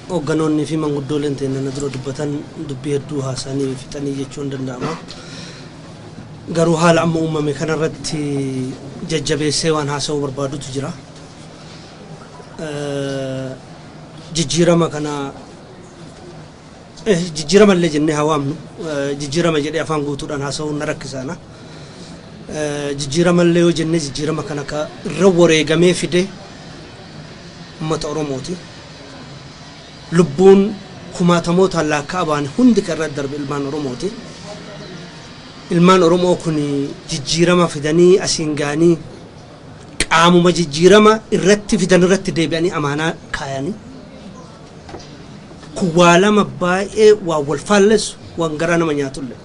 Hoogganoonnii fi manguddooleen teenna na dura dubbatan dubbii hedduu haasa'anii fixanii jechuun ni danda'ama. Garuu haala amma uumame kanarratti jajjabeessee waan haasa'uu barbaadutu jira. Eh, Jijjiirama kana eh, jijjiirama illee jennee haa waamnu. Eh, Jijjiirama jedhee afaan guutuudhaan haasa'uun na rakkisaana. Eh, Jijjiirama illee yoo jennee jijjiirama kana ka irra wareegamee fide ummata Oromooti. Lubbuun kumaatamootaan laakka'amaan hundi kan irra darbe ilmaan Oromooti. Ilmaan Oromoo kun jijjiirama fidanii asiin ga'anii qaamuma jijjiirama irratti fidan irratti deebi'anii amaanaa kaayani. Kun waa lama baay'ee waan wal faallessu, waan garaa nama nyaatulle.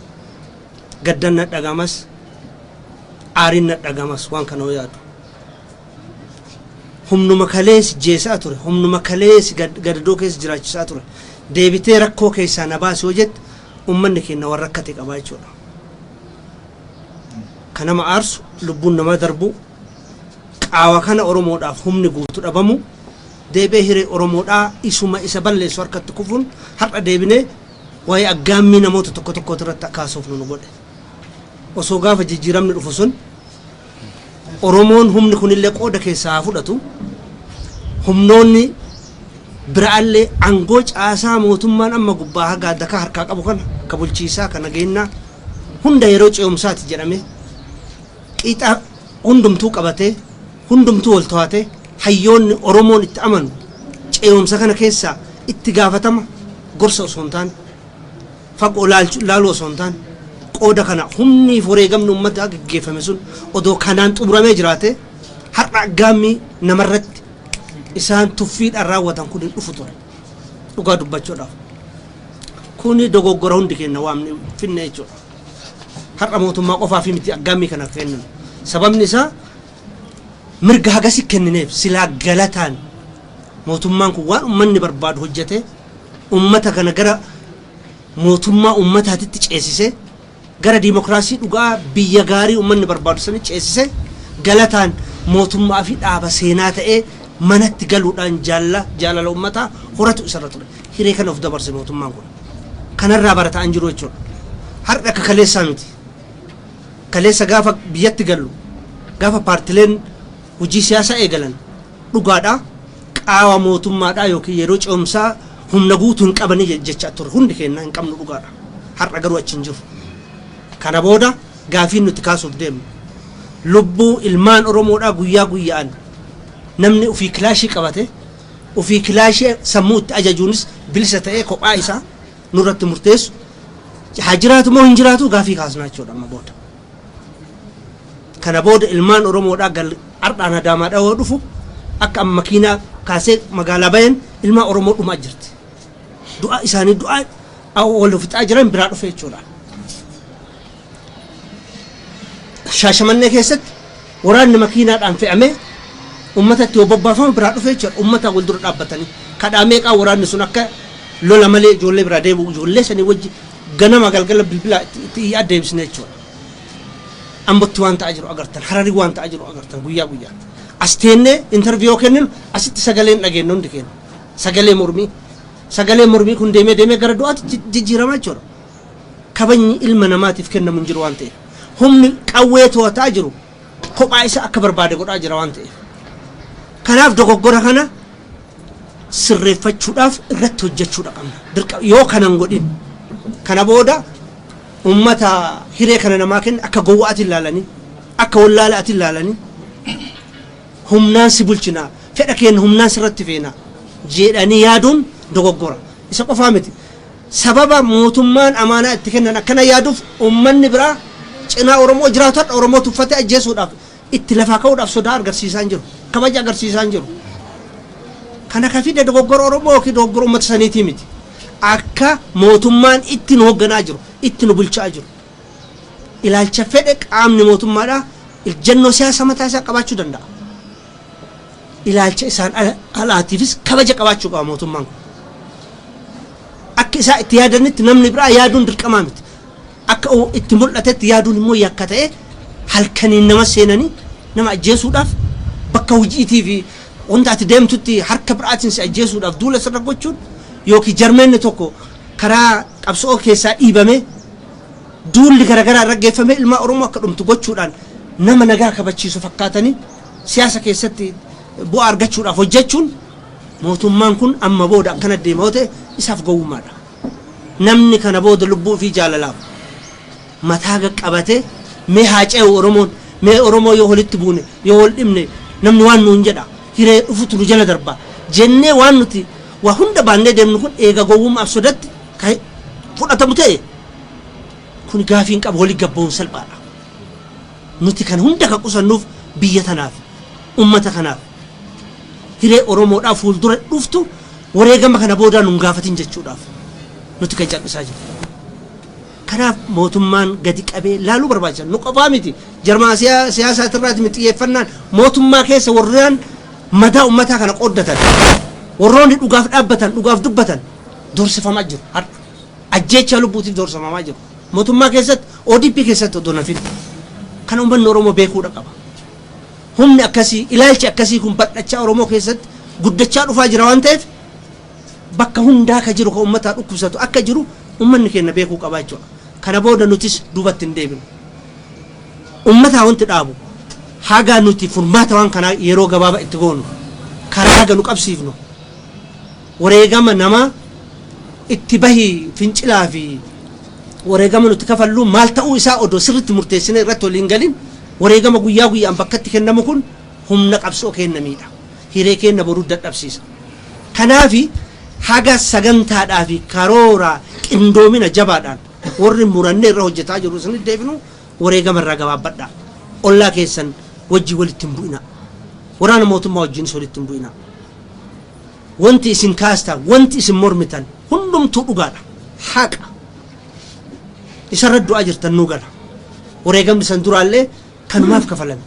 Gaddan na dhaga'amas, aariin na dhaga'amas waan kana yoo yaadu. Humnuma kalee si jeesaa ture, humnuma kalee si gadadoo keessa jiraachisaa ture deebitee rakkoo keessaa na baasi yoo jette ummanni keenya waan rakkate qabaa jechuudha. Ka nama aarsu, lubbuun namaa darbuu, qaawa kana Oromoodhaaf humni guutu dhabamu, deebi'ee hiree Oromoodhaa isuma isa balleessu harkatti kufuun har'a deebinee waa'ee aggaammii namoota tokko tokkootirratti akka haasofnu nu godhe. Osoo gaafa jijjiiramni dhufu sun Oromoon humni kunillee qooda keessaa haa fudhatu, humnoonni biraallee aangoo caasaa mootummaan amma gubbaa haga adakaa harkaa qabu kana, ka bulchiisaa, ka nageennaa, hunda yeroo ce'umsaati jedhamee qixa hundumtuu qabatee, hundumtuu wal to'atee, hayyoonni Oromoon itti amanu ce'umsa kana keessaa itti gaafatama gorsa osoo hin taane, fagoo ilaaluu osoo hin taane qooda kana humniif wareegamni uummataa gaggeeffame sun odoo kanaan xumuramee jiraatee har'a aggaammii namarratti isaan tuffiidhaan raawwatan kun hin dhufu ture dhugaa dubbachuudhaaf. Kuni dogoggora hundi keenya waan finne jechuudha. Har'a mootummaa qofaaf miti aggaammii kana kenninu. Sababni isaa mirga hagasi kennineef silaa galataan mootummaan kun waan uummanni barbaadu hojjetee ummata kana gara mootummaa ummataatitti ceesisee, gara dimokraasii dhugaa biyya gaarii ummanni barbaadu sanitti ceesisee, galataan mootummaa fi dhaaba seenaa ta'ee manatti galuudhaan jaalla jaalala ummataa horatu isarra ture. Hiree kana of dabarse mootummaan kun. Kanarraa barataa hin jiru jechuudha. Har'a akka kaleessaa miti. Kaleessa gaafa biyyatti gallu, gaafa paartileen hojii siyaasaa eegalan dhugaadhaa. Qaawa mootummaadhaa ykn yeroo ce'umsaa humna guutu hin qabani jechaa turre. Hundi keenya hin qabnu dhugaadha. Har'a garuu achi hin jirru. Kana booda gaafiin nuti kaasuuf deemnu lubbuu ilmaan Oromoodhaa guyyaa guyya'an namni ofii kilaashii qabate ofii kilaashii sammuu itti ajajuunis bilisa ta'ee kophaa isaa nurratti murteessu haa jiraatu moo hin jiraatu gaafii kaasnaa jechuudha amma booda. Kana booda ilmaan Oromoodhaa gal ardhaan Adaamaadhaa yoo dhufu akka amma makiinaa kaasee magaalaa bayen ilmaan Oromoo dhumaa jirti. Du'aa isaanii du'aa awwa wal fixaa jiran biraa dhufe jechuudha. Shaashamannee keessatti waraanni makiinaadhaan fe'amee ummatatti yoo bobbaafamu biraa dhufe jechuudha. Ummataan wal dura dhaabbatanii kadhaa meeqaa waraanni sun akka lola malee ijoollee biraa deebi'u ijoollee sanii wajji ganama galgala bilbilaa itti itti iyyaa deebisne jechuudha. Ambotti waan ta'aa jiru agartan, Harari waan ta'aa jiru agartan guyyaa guyyaatti. As teennee interview yoo kenninu asitti sagalee hin dhageennu hundi keenya. Sagalee mormii. Sagalee mormii kun deemee deemee gara du'aatti ji- jijjiiramaa jechuudha. Kabajni ilma namaatiif kennamu hin jiru waan ta'eef. Humni qawwee to'ataa jiru kophaa isaa akka barbaade godhaa jira waan ta'eef. Kanaaf dogoggora kana sirreeffachuudhaaf irratti hojjechuudha qabna. Dirqama yoo kana hin godhin kana booda ummata hiree kana namaa kenna akka gowwaati ilaalanii akka wallaalaati ilaalanii humnaan si bulchinaa fedha keenya humnaan sirratti feena jedhanii yaaduun dogoggora. Isa qofaa miti. Sababa mootummaan amaanaa itti kennan akkana yaaduuf ummanni biraa cinaa Oromoo jiraatu har'a Oromoo tuffatee ajjeesuudhaaf itti lafaa ka'uudhaaf sodaa argarsiisaa hin jiru. Kabaja agarsiisaa hin jiru. Kana ka fide dogoggora Oromoo yookiin dogoggora uummata saniitii miti. Akka mootummaan itti nu hogganaa jiru, itti nu bulchaa jiru. Ilaalcha fedhe qaamni mootummaadhaa ijjannoo siyaasa mataa isaa qabaachuu danda'a. Ilaalcha isaan alaatiifis kabaja qabaachuu qaba mootummaan kun. Akka isaa itti yaadanitti namni biraa yaaduun dirqamaa miti. Akka itti mul'atetti yaaduun immoo yakka ta'ee halkaniin nama seenanii nama ajjeesuudhaaf bakka hojiitii fi wanta ati deemtutti harka biraatiin si ajjeesuudhaaf duula sirra gochuun yookiin jarmeenni tokko karaa qabso'oo keessaa dhiibamee duulli garagaraa irra geeffamee ilmaa Oromoo akka dhumtu gochuudhaan nama nagaa kabachiisu fakkaatanii siyaasa keessatti bu'aa argachuudhaaf hojjechuun mootummaan kun amma booda akkana deema yoo ta'e isaaf gowwummaadha. Namni kana booda lubbuu ofii jaalalaaf mataa gad qabate mee haa ce'u Oromoon. Mee Oromoo yoo walitti buune, yoo wal dhibne namni waan nuun jedha, hiree dhufutu nu jala darba jennee waan nuti waa hunda baannee deemnu kun eega gowwummaaf sodatti ka fudhatamu ta'e kuni gaafii hin qabu wali gad ba'uun salphaadha. Nuti kana hunda ka qusannuuf biyya tanaafi, ummata kanaafi. Hiree Oromoodhaa fuuldura dhuftu wareegama kana boodaa nu hin gaafatin jechuudhaaf nuti kan cal'isaa jirru. Kanaaf mootummaan gadi qabee laaluu barbaachisa. Nu qofaa miti. Jarmaa siyaasaati irraati miti xiyyeeffannaan. Mootummaa keessa warreen madaa ummataa kana qooddatan, warroonni dhugaaf dhaabbatan, dhugaaf dubbatan doorsifamaa jiru har'a. Ajjeechaa lubbuutiif doorsifamaa jiru. Mootummaa keessatti, ODP keessatti odoo hin hafin. Kana ummanni Oromoo beekuudha qaba. Humni akkasii, ilaalchi akkasii kun bal'achaa Oromoo keessatti guddachaa dhufaa jira waan ta'eef bakka hundaa ka jiru ka ummataa dhukkubsatu akka jiru ummanni keenna beekuu qabaa jechuudha. Kana booda nutis duubatti hin deebinu. Ummataa wanti dhaabu haga nuti furmaata waan kanaa yeroo gabaaba itti goonu, karaa haga nu qabsiifnu, Wareegama namaa itti bahi fincilaa fi wareegama nuti kafallu maal ta'uu isaa odoo sirritti murteessinee irratti walii hin galin wareegama guyyaa guyyaan bakkatti kennamu kun humna qabsoo keenna miidha. Hiree keenna boruu dadhabsiisa. Kanaafi haga sagantaadhaa fi karoora qindoomina jabaadhaan warri murannee irra hojjetaa jirru isinitti deebinu wareegama irraa gabaabbadhaa. Ollaa keessan wajjin walitti hin bu'inaa. Waraana mootummaa wajjiinis walitti hin bu'inaa. Wanti isin kaastaan, wanti isin mormitan hundumtuu dhugaadha. Haqa. Isarra du'aa jirtan nuu gala. Wareegamni san duraallee kanumaaf kafalame.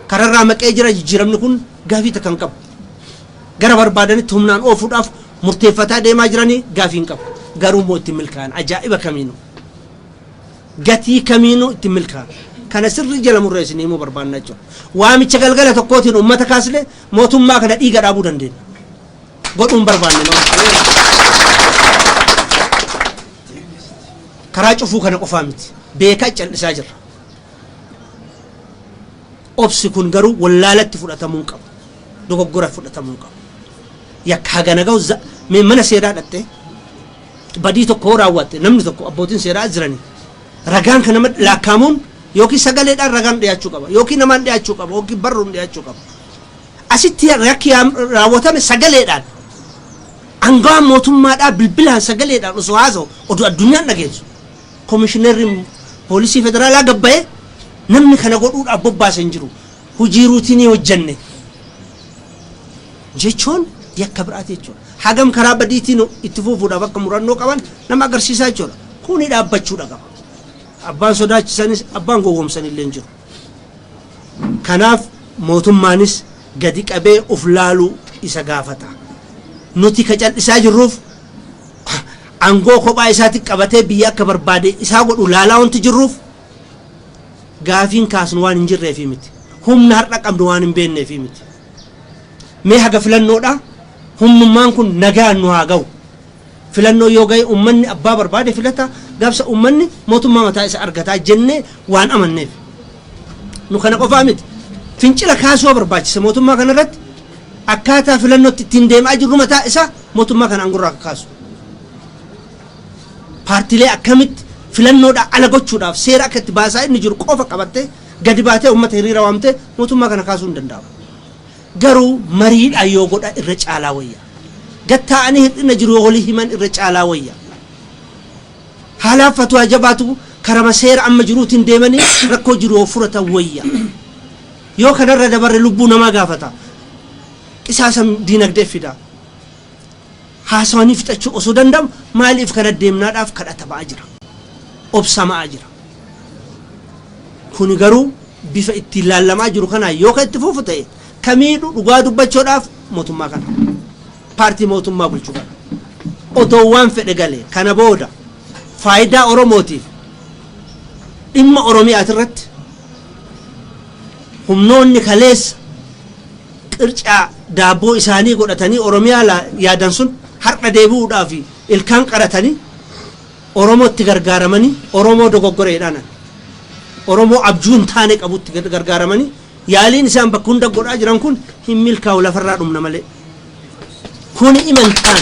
Kararraa maqee jira jijjiiramni kun gaafii takka hin qabu. Gara barbaadanitti humnaan oofuudhaaf murteeffataa deemaa jiranii gaafii hin qabu. Garuu immoo itti milkaa'an ajaa'iba kamiinuu. Gatii kamiinuu itti milkaa'an. Kana sirrii jala murree isinii himuu barbaanna jechuudha. Waamicha galgala tokkootiin uummata kaasne Mootummaa kana dhiiga dhaabuu dandeenya. Godhuu hin barbaanne malee. Karaa cufuu kana qofaa miti. Beekaa cal'isaa jirra. Obsi kun garuu wallaalatti fudhatamuu hin qabu. Dogoggora fudhatamuu hin qabu. Yakka hagana gahu za- mee mana seeraa dhattee badii tokko yoo raawwatte namni tokko abbootiin seeraa jiranii Ragaan kan namatti laakkaamuun yookiin sagaleedhaan ragaan dhiyaachuu qaba yookiin namaan dhiyaachuu qaba yookiin barruun dhiyaachuu qaba. Asitti yakki raawwatame sagaleedhaan angawaan mootummaadhaa bilbilaan sagaleedhaan osoo haasa'u oduu addunyaan dhageessu komishineerri poolisii federaalaa gabbayee namni kana godhuudhaaf bobbaase hin jiru hojii ruutinii hojjenne jechuun yakka biraati jechuudha. Hagam karaa badiitiin itti fufuudhaaf akka murannoo qaban nama agarsiisaa jechuudha. Kuni dhaabbachuudha qaba. Abbaan sodaachisanis abbaan gowwomsanillee hin jiru. Kanaaf mootummaanis gadi qabee uf laaluu isa gaafata. Nuti ka cal'isaa jirruuf angoo kophaa isaati qabatee biyya akka barbaade isaa godhu laalaa wanti jirruuf gaafiin kaasnu waan hin jirreefii miti. Humna har'a qabnu waan hin beekneefii miti. Mee haga filannoodhaa humnummaan kun nagaan nu haa gahu. Filannoon yoo gahe ummanni abbaa barbaade filata, gaafsa ummanni mootummaa mataa isa argata jennee waan amanneef. Nu kana qofaa miti. Fincila kaasuu barbaachisa mootummaa kana irratti akkaataa filannootti ittiin deem'aa jirru mataa isaa mootummaa kana aangorraa akka kaasu. Paartilee akkamitti filannoodhaa ala gochuudhaaf seera akka itti baasaa inni jiru qofa qabattee gadi baatee ummata hiriira waamtee mootummaa kana kaasuu hin danda'amu. Garuu mariidhaan yoo godha irra caalaa wayya. Gad taa'anii hir'ina jiru yoo walii himan irra caalaa wayya. Haalaaf fatuwaa jabaatu karama seera amma jiruutiin deemanii rakkoo jiru yoo furatan wayya. Yoo kanarra dabarre lubbuu namaa gaafata. Qisaasa diinagdee fida. Haasawanii fixachuu osoo danda'amu maaliif kana deemnaa dhaaf kadhatama'aa jira. Obsama'aa jira. Kuni garuu bifa ittiin laallamaa jiru kanaan yoo kan itti fufu ta'e ka miidhu dhugaa dubbachoo dhaaf mootummaa kana. Paartii mootummaa bulchu kana. Otoo waan fedhe galee kana booda faayidaa Oromootiif dhimma Oromiyaati irratti humnoonni kaleessa qircaa daabboo isaanii godhatanii Oromiyaa laa yaadan sun har'a deebi'uudhaaf ilkaan qaratanii Oromootti gargaaramanii Oromoo dogoggora jedhaanan Oromoo abjuu hin taane qabutti gargaaramanii yaaliin isaan bakka hunda godhaa jiran kun hin milkaa'u lafarraa dhumna malee kuni imantaan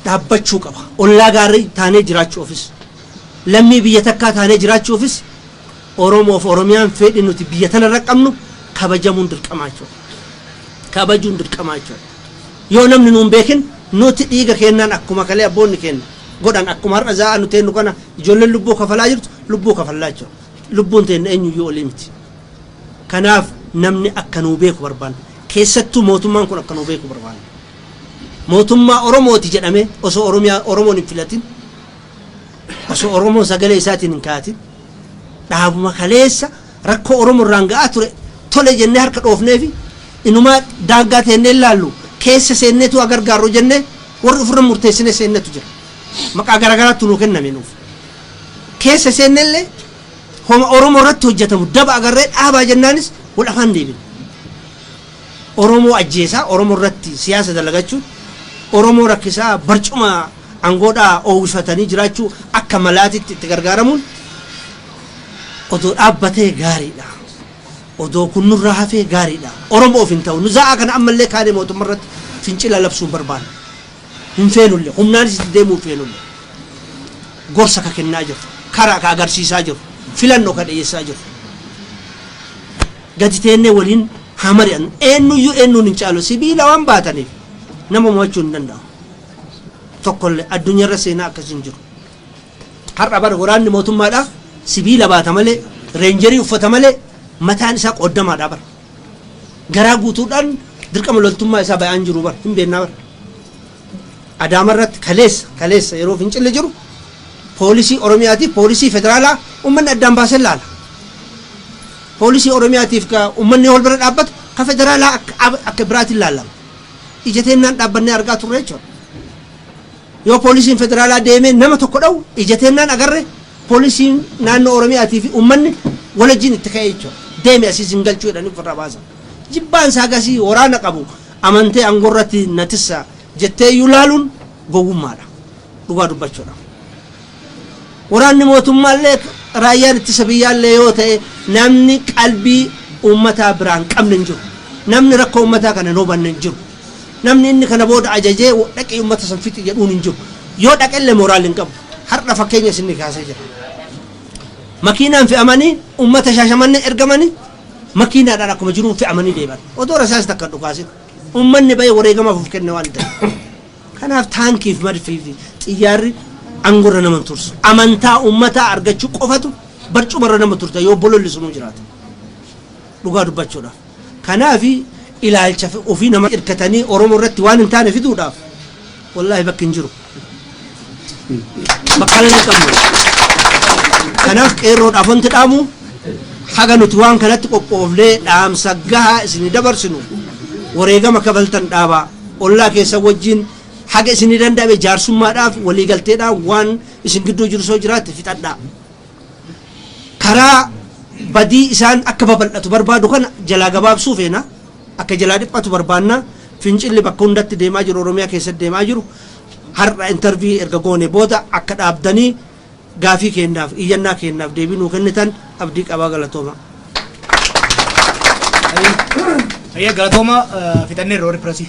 dhaabbachuu qaba ollaa gaarii taanee jiraachuu ofis lammii biyya takkaa taanee jiraachuufis Oromoo fi Oromiyaan feedhi nuti biyya tana irra qabnu kabajamuun dirqamaa jechuu dha. Kabajuun dirqamaa jechuu dha. Yoo namni nu hin beekin nuti dhiiga keennaan akkuma kalee abboonni keenna godhan akkuma har'a zaa'aa nu teennu kana ijoolleen lubbuu kafalaa jirtu lubbuu kafallaa jechuu dha. Lubbuun teenna eenyuyyuu olii miti. Kanaaf namni akka nuu beeku barbaanna. Keessattuu mootummaan kun akka nuu beeku barbaanna. Mootummaa Oromooti jedhamee osoo Oromiyaa Oromoon hin filatin Osoo Oromoon sagalee isaatiin hin ka'atin dhaabuma kaleessa rakkoo Oromoo irraan ga'aa ture tole jennee harka dhoofneefi inumaa daangaa teennee hin laallu keessa seenneetu haa gargaarru jennee warri ofirra murteessinee seennetu jira. Maqaa garaagaraattu nuu kenname nuuf. Keessa seenne illee homa Oromoo irratti hojjetamu daba agarree dhaabaa jennaanis wal afaan deebine. Oromoo ajjeesaa, Oromo irratti siyaasa dalagachuun, Oromoo rakkisaa barcuma angoodhaa oowwifatanii jiraachuu akka malaatitti itti gargaaramuun odoo dhaabbatee gaariidha. Odoo kun nurraa hafee gaariidha. Oromoof hin ta'u. Nu za'aa kana ammallee kaanee mootumma irratti fincila labsuu hin barbaannu. Hin feenulle. Humnaanis itti deemuu hin feenulle. Gorsa ka kennaa jirru. Kara ka agarsiisaa jirru. Filanno ka dhiyeessaa jirru. Gadi teennee waliin haa mari'annu. Eennuyyuu eennuun hin caalu. Sibiila waan baataniif nama mo'achuu hin danda'amu. Tokkollee. Addunyarra seenaa akkasii hin jiru. Har'a bar waraanni mootummaadhaa sibiila baata malee, reenjerii uffata malee mataan isaa qooddamaadhaa bar. Garaa guutuudhaan dirqama loltummaa isaa ba'aa hin jiru bar. Hin beennaa bar. Adaamarratti kaleessa kaleessa yeroo fincilli jiru poolisii Oromiyaatiif poolisii federaalaa ummanni addaan baasee laala. Poolisii Oromiyaatiif ka ummanni wal bira dhaabbatu ka federaalaa akka ab- akka biraatiin laalama. Ija teennaan dhaabbannee argaa turre jechuudha. Yoo poolisiin federaalaa deemee nama tokko dha'u ija teennaan agarre poolisiin naannoo Oromiyaatii fi ummanni walajjiin itti ka'ee jechuudha. Deemi asii sin galchuu jedhanii ofirraa baasan. Jibbaan isaa gasii waraana qabu Amantee angorratti na tissa jetteeyyuu laaluun gowwummaadha. Dhugaa dubbachuudhaaf. Waraanni mootummaallee raayyaan ittisa biyyaallee yoo ta'e namni qalbii uummataa biraa hin qabne hin jiru. Namni rakkoo uummataa kana hin hubanne hin jiru. Namni inni kana booda ajajee dhaqii uummata san fixi jedhuun hin jiru. Yoo dhaqellee moraal hin qabu. Har'a fakkeenya isinni kaasee jira. Makiinaan fe'amanii uummata Shaashamannee ergamanii makiinaadhaan akkuma jiruun fe'amanii deeman. Odoo rasaasi takka hin dhukaasin. Uummanni ba'ee wareegamaaf of kenne waan ta'eef. Kanaaf taankii fi madfii fi xiyyaarri aangorra nama hin tursu. Amantaa uummataa argachuu qofatu barcumarra nama turta yoo bololli sunuu jiraate. Dhugaa dubbachuudhaaf. Kanaaf ilaalcha ofii nama hirkatanii Oromoo irratti waan hin taane fiduudhaaf Wallaahi bakki hin jiru. Makkaana hin qabnu. Kanaaf qeerroodhaaf wanti dhaamu haga nuti waan kanatti qophoofnee dhaamsa gahaa isinii dabarsinu wareegama kafaltan dhaabaa ollaa keessan wajjin haga isinii danda'ame jaarsummaadhaaf waliigalteedhaan waan isin gidduu jiru soo jiraatti fixadhaa. Karaa badii isaan akka babal'atu barbaadu kana jalaa gabaabsuu feena. Akka jalaa dhiphatu barbaanna. Fincilli bakka hundatti deemaa jiru Oromiyaa keessatti deemaa jiru har'a intervii erga goone booda akka dhaabdanii gaafii keenyaaf iyyannaa keenyaaf deebii nuu kennitan abdii qabaa galatooma. Hayyee galatooma fixanneerra warri pirasii.